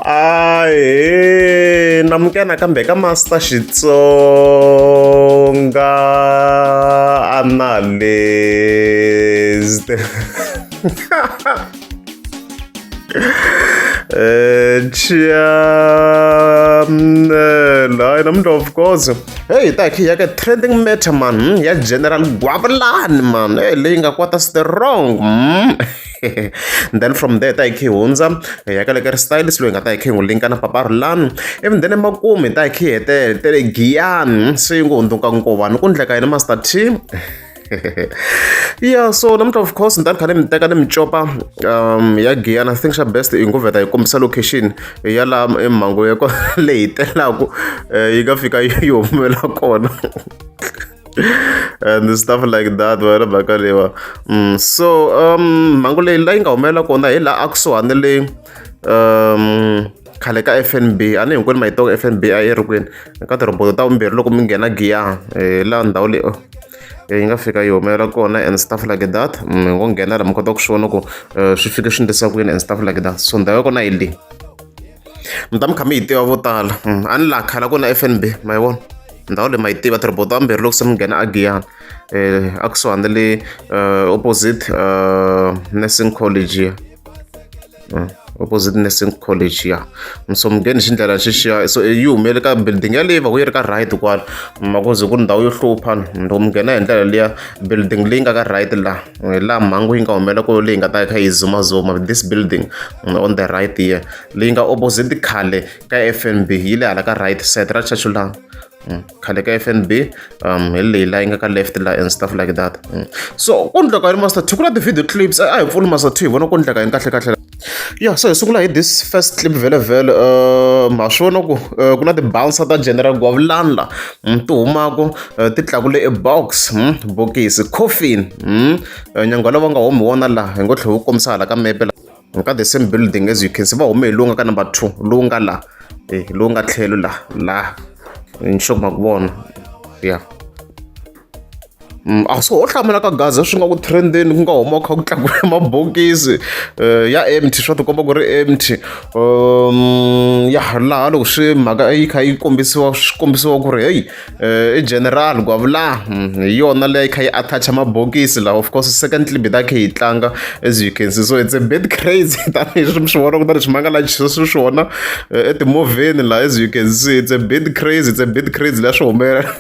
ahe namuka nakambe ka master xitsonga analyst eh, chiamnela hayi namuntlha of course heyi hi ta hi ya ka trending matter man hmm, ya general gwavulani man hey eh, leyi nga kwata strong mm. then from there ta hi khe hundza hi ya ka le ka ri stylist loyi hi nga ta hi khe hi n'wi linka na papa rulani even then emakumu hi ta hi khe hi hetele tele giyani se yi ngo hundzuka nkovani ku ndleka yena master t yeah so namuntlha of course ni ta ni kha ni mi teka ni mi copa um ya giyana i think xa best i ngo vheta hi kombisa location ya laha emhangu ya leyi telaka eh, yi nga fika yi humela kona and stuff like that wena bhaka lewa mm, so um mhangu leyi la yi nga humelela kona hi laha a kusuhani le um khale ka f n b a ni hinkwenu ma yi tiva f n b a yi ri kwini ka tirhoboto ta vumbirhi loko mi nghena giya eh, laha ndhawu leyi oh. Eh, yi nga fika yi humelela kona and stuff like that mi mm, ngo nghena laha mi kota ku swi vona ku eh, swi fike swi ndlisa kwini and stuff like that so ndhawu ya kona yi leyi mi ta mi kha mi yi tiva vo tala mm, a ni laha khala ku na fnb ma yi vona ndhawu leyi ma yi tiva tirobota vambirhi loko se mi nghena agiyana um eh, a kusuhani na le eh, opposite eh, nursing college ya mm, opposite nursing college ya mm, so mi ngheni hi xindlela xixiya so yi humele ka building yaleyi va ku yi ri ka right kwala makuze ku ri ndhawu yo hluphana loko mi nghena hi ndlela liya building leyi nga ka right laha laha mhangu yi nga humelela ku leyi nga ta kha yi zumazuma this building mm, on the right here leyi nga opposite khale ka fnb yi le hala ka right side ra chachu laha mm, khale ka fnb um hi leyi laha yi nga ka left laha and stuff like that mm. so ku ndleka yini master two ku na ti-video clips a hi pfuni master two hi vona ku ndleka yini kahle kahle ya se hi sungula hi this first clip vhelavhele um ha swi vona ku eh, ku na ti-bouncer ta general gwavulani la mm, ti humaka eh, ti tlakule e box mm, bokisi coffin mm, eh, nyangwa lava nga humi wona laha hi ngo tlhe wu kombisa hala ka mepe la ka the same building as you can see va hume hi lowu nga ka number two lowu nga la eh lowu nga tlhelo la la nxoku ma ku vona ya Mm, a so ho hlamula ka gaza swi nga ku trendeni ku nga huma kha ku tlakula mabokisi um ya empty swa tikomba ku ri empty um ya laha loko swi mhaka yi kha yi kombisiwa swi kombisiwa ku ri heyi um i general gwavula mm, hi yona leyi kha yi attacha mabokisi laha of course second clip ta khe yi tlanga as you can see so it's a bit crazy tanihileswi mi swi vona ku ta leswi manga laha swi swona etimovheni laha as you can see it's a bit crazy it's a bit crazy laha swi humelela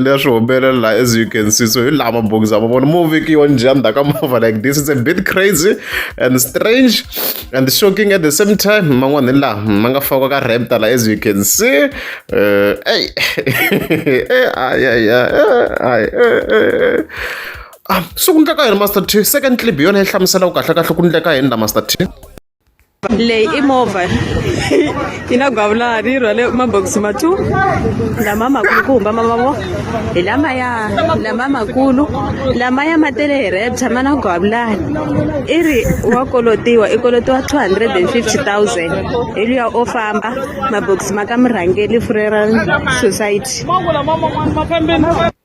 leswi swi humelela laha as you can see so hi laha mabokisi ma vona mo vekiwa njhani ndzhaku ka movha like this it's a bit crazy and strange and shocking at the same time man'wana hi laha ma nga fakiwa ka rapta laha as you can see eh, ey ayaya ay ah so ku ndleka yini master t second clip hi yona yi hlamuselaka kahle kahle ku ndleka yini la master t leyi i movha yi na gwavulani yi rhwale mabokisi ma two lama makulu ku humba mamavo hi lamaya lama makulu lamaya ma tele hi repta ma na gwavulani i ri wa kolotiwa i kolotiwa two hundred and fifty thousand hi luya o famba mabokisi ma ka murhangeli furera society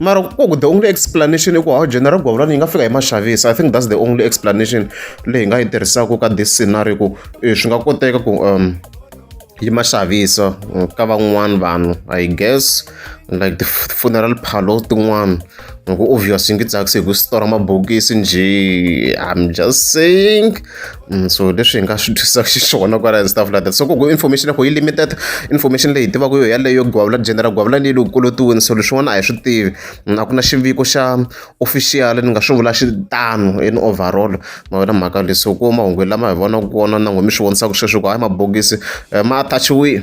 mara ku the only explanation i ku how general govulani yi nga fika hi maxavisa i think that's the only explanation leyi hi nga yi tirhisaka ka this scenario ku eh, swi nga koteka ku um yi ma xavisa eh, ka van'wana vanhu i guess like the funeral parlor tin'wana ngoku obvious into itsakisi hi ku sitora mabokisi nje i'm just saying mm, so leswi hi nga swi twisaka xiswona kwala and stuff like that so koko information yakho yi limited information leyi hi tivaka yo yaleyo gwavula general gwavula leyi loko kolotiwini so leswin'wana a hi swi tivi mm, a ku na xiviko xa official ni nga swi vula xitano in overall ma wena mhaka leswi ku mahungu lama hi vonaka kona na n'we mi swi vonisaka sweswi ku hayi mabokisi eh, ma attachiwile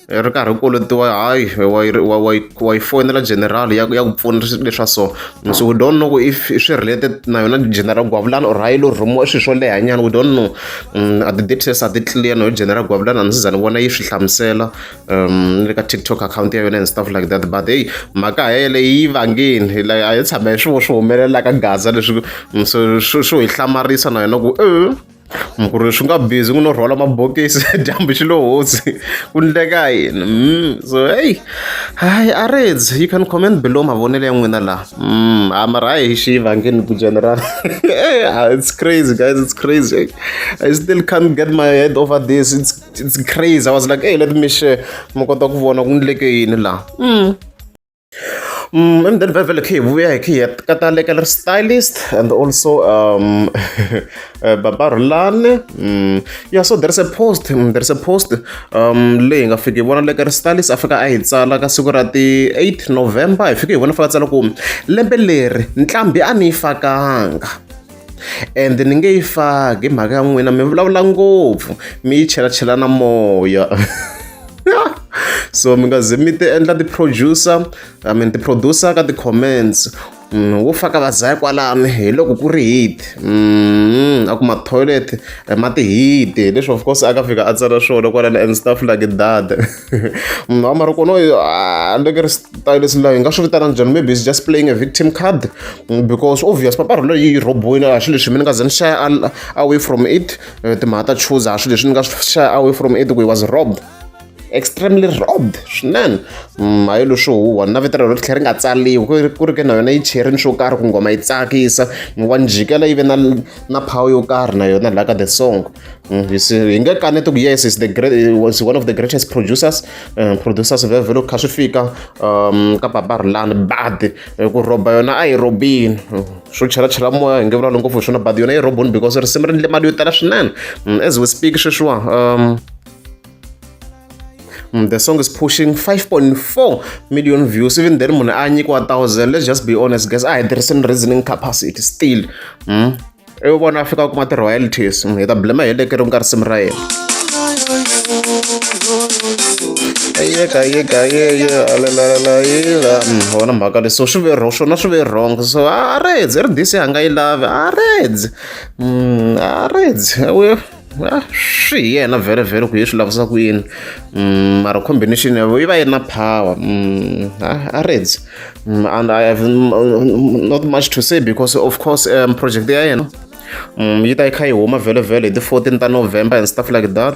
hi ri karhi u kolotiwa hayi wa yi wa wa wa yi fonela general ya ya ku pfuna leswa so so we don't know ku if swi related na yona general gwavulana or hayi lo rhumiwa swilo swo leha nyana we don't know um, a ti-details a ti clear na yo general gwavulana a ndzi za ni vona yi swi hlamusela um le ka tiktok account ya yona and stuff like that but hey mhaka ha yele yi vangeni like a yi tshama hi swivo swi humelela ka gaza leswi so swi hi hlamarisa na yona ku e ku ri swi nga busy ku no rhwala mabokisi dyambu xi lo hosi ku ndleka yini mm, so heyi hayi areds you can comment below mavonelo ya n'wina laha mm, ha mara hayi xi vangeni ku general ah, it's crazy guys it's crazy i still can't get my head over this it's, it's crazy i was like hey let me share mi kota ku vona ku ndleke yini laha mm. Mm, emdeni vele vele khe vuya hi khe ka ta leka ri stylist and also um eh, baba rulane mm, yeah so there's a post mm, there's a post um leyi nga fiki hi vona leka ri stylist a fika a hi tsala ka siku ra ti 8 november hi fike hi vona fika tsala ku lembe leri ntlhambi a ni yi fakanga ende ni nge yi faki hi mhaka ya n'wina mi vulavula ngopfu mi yi chelachela na moya so mi nga ze mi ti endla ti-producer i mean ti-producer ka ti-comments Mm, wo faka vazaya kwalano hi loko ku ri hit mm, a ku matoilet eh, ma tihiti leswi of course a ka fika a tsala swona kwalano and stuff like that munhu wa maroko noyo ah, ni vekeri style leswi layo hi nga swi vitana njhani maybe is just playing a victim card mm, because obvious paparhu leyi yi robiwile a swi leswi mi ni nga ze ni xaya away from it eh, timhaka ta choose a swi leswi ni nga swi xaya away from it ku he was robbed extremely robbed swinene mm, hayi leswo huwa na vito rero ri tlhela ri nga tsaliwi ku ri ke na yona yi cherini swo karhi ku nghoma yi tsakisa wa njhikela yi ve na na phawu yo karhi na yona laha ka the song Mm, hi hi nge kaneti ku yes is the great was one of the greatest producers um, producers va vhelo kha swi fika um ka baba rilani badi eh, ku roba yona a yi robini mm, swo chelachela moya hi nge vulalo ngopfu hi swona badi yona yi roboni because risimu ri ndle mali yo tala swinene mm, as we speak sweswiwa um Mm, the song is pushing 5.4 million views even then munhu a nyikiwa 1000 let's just be honest guys a hi tirhisini reasoning capacity still mm? ivi vona fika kuma ti-royalties hi ta blema hi lekeri ku nga risimu ra yena yekayegayeyealelalaila wona mhaka leswo swi ve wrong swona swi ve wrong so a redzi ri dise a nga yi lavi a redzi a redzi Ah, swi hi yena vhele vhele ku hi swi lavisa ku yini mm, mara combination yavo yi va yi ri na power mm, ah, a reds mm, and i have not much to say because of course um, project ya yena yi ta yi kha yi huma vhele vhele hi ti-fourteen ta november and stuff like that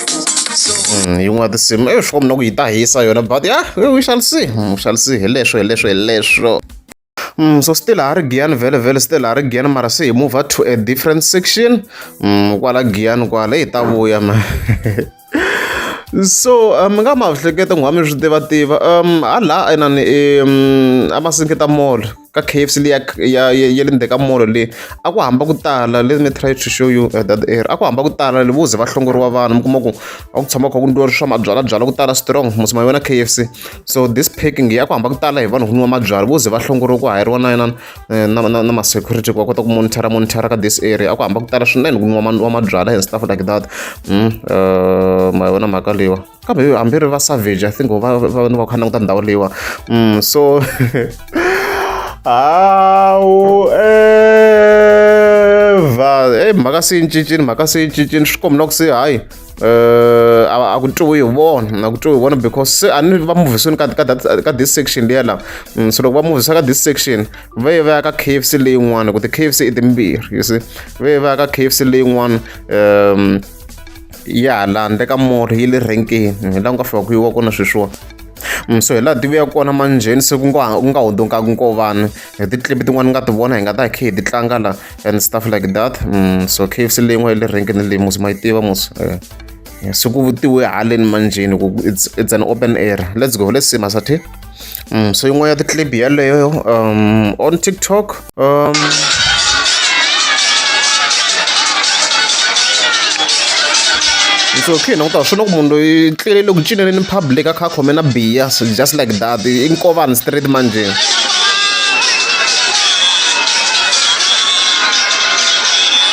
Mm, yin'wana ya tinsimu e swi mina ku yi ta hisa yona but ya we shall see mm, we shall see hi leswo hi leswo hi leswo Mm, so still ha ri giyani vhele vhele still ha ri giyani mara se hi move to a different section mm, kwala giyani kwala hi ta vuya ma so mi um, nga ma hleketa n'wami swi tiva tiva um hala inani um a ma sinketa mall ka K_F_C leyi ya ya ya le ndzeni ka mall leyi, a ku hamba ku tala let me try to show you that area. A ku hamba ku tala loko wo ze va hlongoriwa vanhu mi kuma ku a ku tshama ku kha ku nwiwa swa mabyalabyala ku tala strong mos ma yona K_F_C. So this packing ya ku hamba ku tala hi vanhu ku nwiwa mabyalwa, vo ze va hlongoriwa ku hayariwa na na na na na ma-security ku va kota ku monitor-a monitor-a ka this area. A ku hamba ku tala swinene ku nwiwa mabyalwa and stuff like that ma yona mhaka leyiwani. kambe hambi ri va savage i think va va ni va kha languta ndhawu leyiwa mm, so hawu evha eyi mhaka se yi cincini mhaka se yi cincini swi kombela ku se hayi um a ku twiwi hi vona a ku twiwi hi vona because se a ni va muvhisweni ka ka this section liya laha mm, so loko va muvhisa ka this section va ye va ya ka k f c leyin'wana ku ti k f c i timbirhi you see va ye va ya ka k f c leyin'wana um ya hala handle ka mori yi le renkeni hi laha ku nga fika ku yiwa kona sweswiwa mm, so hi laha tivuya kona manjheni se ku nga ku nga hundunkaka nkovana hi ti-clip tin'wana ni nga ti vona hi nga ta hi khe hi ti tlanga la and stuff like that mm, so kfc leyi n'wa yi le renkeni leyi musi ma yi tiva musi eh, eh, se ku vutiwe haleni manjheni ku it's, it's an open air let's go let's see masathe Mm, so yin'wana ya ticlip yaleyo um, on tiktok um, so khe na ku ta swi loko munhu loyi tlele loko cineleni public a kha a khome na biya so just like that i nkovani street manje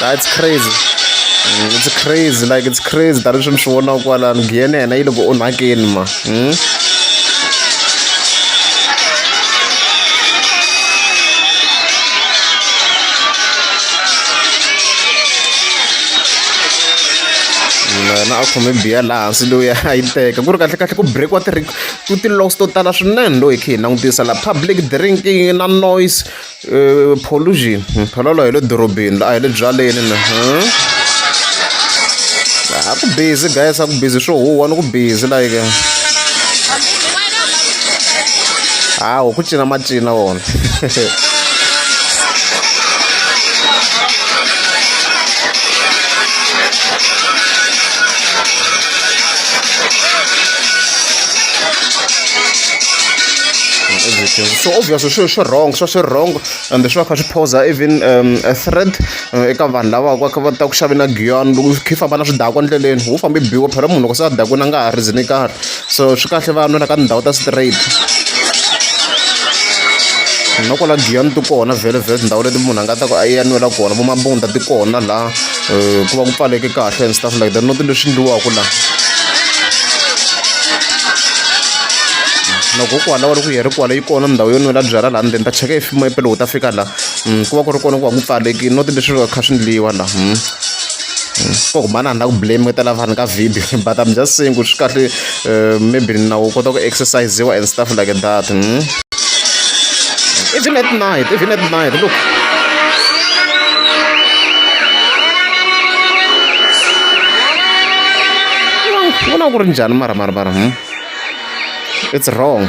that's crazy mm, it's crazy like it's crazy tani swi ni swi vonaka kwalani giyene yena yi loko onhakeni ma หือna a khome biya laha hansi loyi a yi teka ku ri kahle kahle ku breakiwa ti ku ti-loss to tala swinene loyi khe hi langutisa la public drinking na noise pollution phalalu a hi le dorobeni la a hi le byaleni na a ku busy guys a ku busy swo huwa ni ku busy like hawu ku cina macina wona everything so obviously swilo swi wrong swa swi wrong ende swi va kha swi poser even um, a threat uh, eka vanhu lava va ka va ta ku xavela giyon loko khe famba na swidakwa ndleleni wu fambe biwa phela munhu loko se a dakweni a nga ha rizini karhi so swi kahle va nwela ka tindhawu ta straight na kwala giyon ti kona vhele vhele tindhawu leti munhu a nga ta ku a ya nwela kona vomabunda ti kona laha um ku va ku pfaleke kahle and stuff like that not leswi endliwaka la loko u kwala wa ri ku yi ri kwala yi kona ndhawu yo nwela byala laha ndzeni ta cheka hi fimo epe loko ta fika la mm, ku va ku ri kona ku va ku pfalekile not leswi va kha swi ndliwa la mm. mm. ko humana na ku blame ka lava vanhu ka video but i'm just saying ku swi kahle uh, maybe na u kota ku exercisiwa and stuff like that hmm? even at night even at night look vona ku ri njhani mara mara mara hmm? it's wrong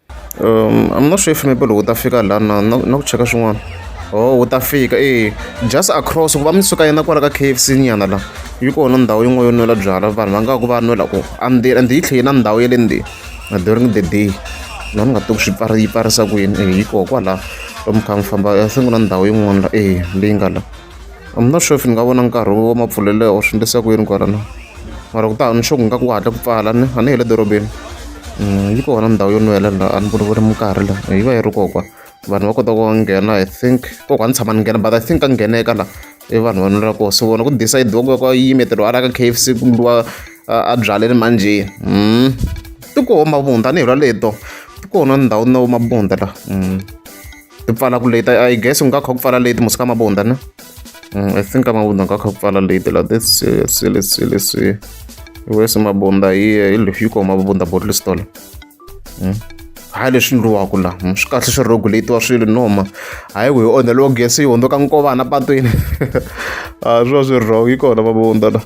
a mi na sure if maybe loko u ta fika la na na na ku cheka swin'wana oh wu ta fika e just across ku va mi suka yena kwala ka K_F_C nyana la yi kona ndhawu yin'wana yo nwela byalwa vanhu va nga ku va nwela ku a ndzeni ende yi tlhela na ndhawu ya le ndzeni na during the day na ni nga tivi ku swi pfari yi pfarisa ku yini e yi koho kwala lomu kha mi famba i think na ndhawu yin'wana la e leyi nga la I'm not sure if ni nga vona nkarhi wa mapfulelo or swi endlisa ku yini kwalano mara ku ta hava ni sure ku nga ku hatla ku pfala ni a ni hi le dorobeni Mm, yi kona ndhawu yo nwela laha a ni voni voni minkarhi la yi va yi ri kokwa vanhu va kota ku nghena i think kokwa a ni tshama ni nghena but i think ka ngheneka la i vanhu va nwela koho so vona ku decide wa ku ya ku yimeteriwa a la ka k f c ku ndliwa a byaleni manjheni mm. ti koho mavunda a ni hi lwa leto ti kona ndhawu na mabunda la mm. ti pfala ku leti i guess ku nga kha ku pfala leti musika mabunda na mm, i think mabunda nga kha ku pfala leti la this sile sile si wesi mabunda yi yi lexi yi koma mabunda bottle store mm. hayi leswi ndliwaka la mm, swi kahle swi regulatiwa swilo noma hayi ku hi onheliwa gesi yi hundzuka nkovana patwini a swi va swi ri wrong yi kona mabunda la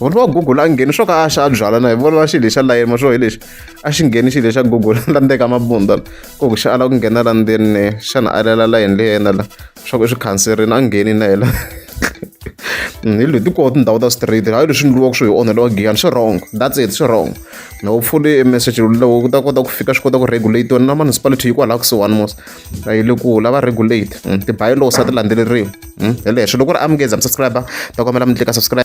vona va google a ngheni swo ka a xa a byala na hi vona va xilo lexa layeni ma swo hi lexi a xi ngheni xilo xa google la ndeka mabunda ku ku xa ala ku nghena la ndzeni xana a lela la yini leyi yena la swa ku i swi khanserini a ngheni na yena hi leti koho tindhawu ta straight hayi leswi ndliwaka swo hi onheliwa giyani swi wrong that's it swi wrong na wu pfule e message lowu ku ta kota ku fika swi kota ku regulate wena na municipality yi kwalaha kusuhani mos a yi le ku lava regulate hmm, ti-bylaws a ti landzeleriwi hmm, hi lexo loko ri amukeza mi subscriber ta kombela mi tlika subscribe